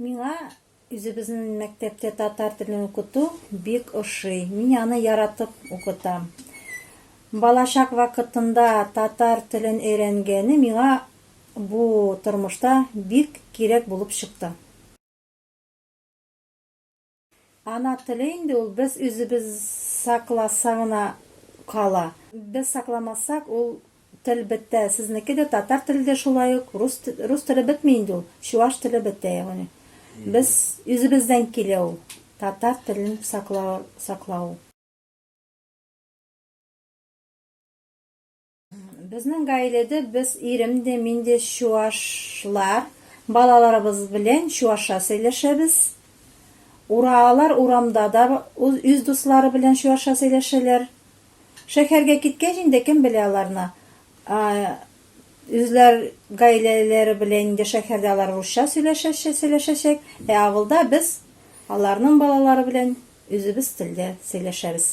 Миңа үзебезнең мәктәптә татар телен укыту бик ошый. Мин аны яратып укытам. Балачак вакытында татар телен өйрәнгәне миңа бу тормышта бик кирәк булып чыкты. Ана теле инде ул без үзебез сакласа гына кала. Без сакламасак ул тел бетә. Сезнеке дә татар теле дә шулай ук. Рус рус теле бетми инде ул. Чуваш теле бетә ягъни. Без үзебездән килә ул. Татар телен саклау саклау. Безнең гаиләдә без ирем дә, мин дә чуашлар. Балаларыбыз белән чуашча сөйләшәбез. Ураалар урамда да үз дуслары белән чуашча сөйләшәләр. Шәһәргә киткәч инде кем белә аларны. Үзләр гаиләләре белән инде шәһәрдә алар русча сөйләшәчәк, ә авылда без аларның балалары белән үзебез телдә сөйләшәбез.